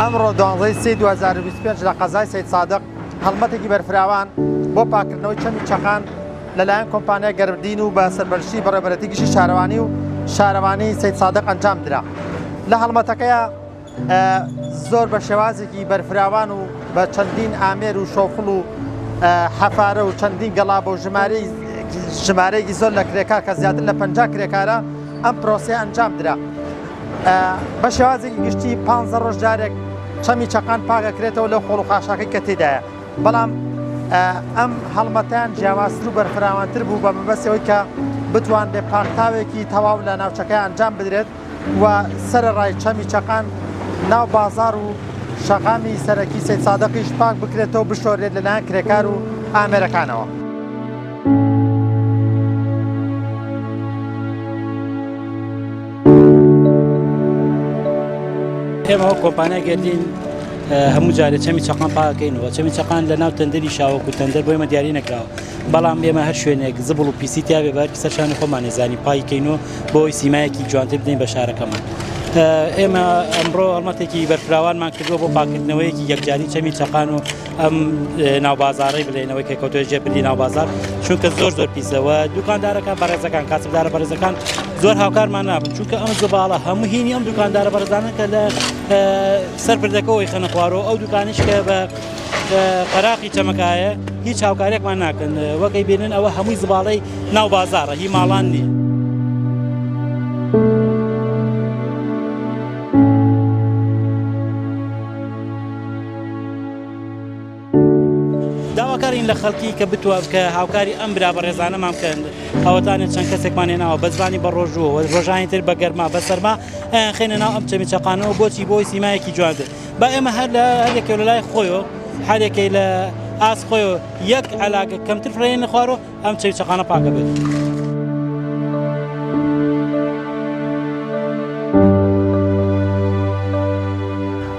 ئەمڕۆ دوانزەی سی 2025 لە قەزای سید سادق هەڵمەتێکی بەرفراوان بۆ پاکردنەوەی چەمی چەخان لەلایەن کۆمپانیای گەرمدین و بە سەرپەرشتی بەڕێوەبەرێتی گشتی شارەوانی و شارەوانی سەیدسادق ئەنجام درا لە هەڵمەتەکەیا زۆر بە شێوازێکی بەرفراوان و بە چەندین ئامێر و شۆفڵ و حەفارە و چەندین گەڵا بۆ ژماری ژمارەیەکی زۆر لە کرێکار کە زیاتر لە پ کرێکارە ئەم پرۆسیە ئەنجام درا بە شێوازێکی گشتی پ ڕۆژ جارێک چەمی چەقان پاگەکرێتەوە لەو خۆڵ و خاشاکەی کە تێدایە بەڵام ئەم هەڵمەتەیان جیاوازتر و بەرفراوانتر بوو بە مەبەست ئەوەی کە بتوانرێت پاکتاوێکی تەواو لە ناوچەکە ئەنجام بدرێت و سەرەڕای چەمی چەقان ناو بازار و شەقامی سەرەکی سید سادقیش پاک بکرێتەوە بشۆرێت لەلایەن کرێکار و ئامێرەکانەوە. ئێمە وەک کۆمپانیای گەردین هەموو جارێ چەمی چەقان پاکەینەوە چەمی چەقان لە ناو تەندەری شاوەکو تەندەر بۆ ئمە دیاری نەکراوە بەڵام ئێمە هەر شوێنێک زبڵ و پیسی تیاێ بەر سەرشانی خۆمانە زانی پایکەین و بۆی سیمایەکی جوانتر بدەین بە شارەکەمان. ئێمە ئەمڕۆ ئەڵمەتێکی بەرفراوانمان کردووە بۆ پاکردنەوەیەکی یەکجاری چەمی چەقان و ئەم ناوبازارەی بلێنەوەی کە کەوتۆ جێ پردی ناوبازار چونکە زۆر زۆر پیسەوە دوکاندارەکان بەڕێزەکان کاسبدارە بەڕێزەکان زۆر هاوکارمان نابن چونکە ئەم زباڵە هەموو هینی ئەم دوکاندارە بەرزانە کە لە سەر پردەکەەوەی خەنەخوارەوە ئەو دوکانیش کە بە قەراقی چەمەکایە هیچ هاوکارێکمان ناکەن وەکەی بێنن ئەوە هەمووی زباڵەی ناو بازارە هی ماڵان نیە. داواکارین لە خەڵکی کە بتوە کە هاوکاری ئەم برا بەڕێزانەمان بکەن ئەوەتانێت چەند کەسێکمان هێناوە بەزبانی بە ڕۆژوە ڕۆژانی تر بە گەرما بە سەرما ئەیان خێنە ناو ئەم چەمی چەقانەوە بۆچی بۆی سیمایەکی جوان بێت با ئێمە هەر لە هەرێکە لە لای خۆیەوە هەرێکی لە ئاس خۆی یەک علاگە کەمتر فرێن خوارەوە ئەم چەوی چەقانە پاکە بێت.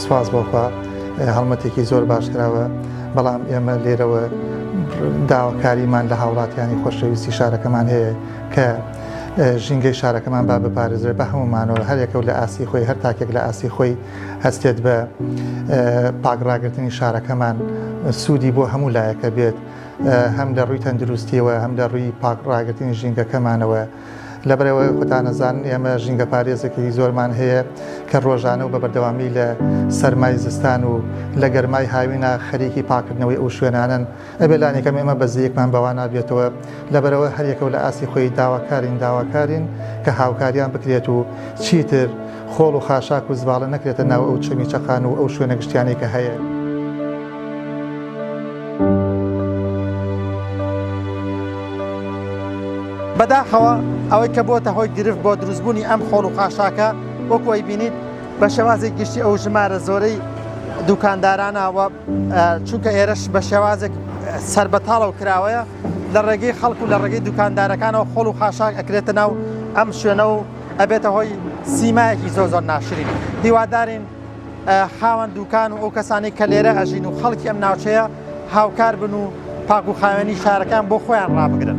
سپاس بۆخوا هەڵمەتێکی زۆر باش کراوە بەڵام ئێمە لێرەوە داواکاریمان لە هاوڵاتیانی خۆشەویستی شارەکەمان هەیە کە ژینگەی شارەکەمان با بپارێزرێت بە هەمومانەوە هەرێکە و لە ئاسی خۆی هەر تاکێک لە ئاسی خۆی هەستێت بە پاگڕاگرتنی شارەکەمان سوودی بۆ هەموو لایەکە بێت هەم لە ڕووی تەندروستیەوە هەم لە ڕووی پاک ڕاگرتنی ژینگەکەمانەوە لەبەرەوە خۆتانەزان ئێمە ژینگە پارێزەکەی زۆرمان هەیە کە ڕۆژانە و بە بەردەوامی لە سەرمای زستان و لە گەرمای هاوینا خەریکی پاکردنەوەی ئەو شوێنانن ئەبێ لانیکەم ئێمە بەزیەکمان بەوا نابێتەوە لەبەرەوە هەریەکەو لە ئاستی خۆی داواکارین داواکارین کە هاوکاریان بکرێت و چیتر خۆڵ و خاشاک و زباڵە نەکرێتە ناو ئەو چەمی چەقان و ئەو شوێنە گشتیانەی کە هەیە. بەداخەوە ئەوەی کە بۆتە هۆی گرفت بۆ دروستبوونی ئەم خۆڵ و خاشاکە وەکو ئەی بینیت بە شێوازی گشتی ئەو ژمارە زۆرەی دوکاندارانەوە چونکە ئێرەش بە شێوازێک سربەتاڵەوە کراوەیە لە ڕێگەی خەڵک و لە ڕێگەی دوکاندارەکانەوە خۆڵ و خاشاک ئەکرێتە ناو ئەم شوێنە و ئەبێتە هۆی سیمایەکی زۆ زۆر ناشرین هیوادارین خاوەن دوکان و ئەو کەسانی کە لێرە ئەژین و خەڵکی ئەم ناوچەیە هاوکار بن و پاک و خاوێنی شارەکان بۆ خۆیان ڕابگرن.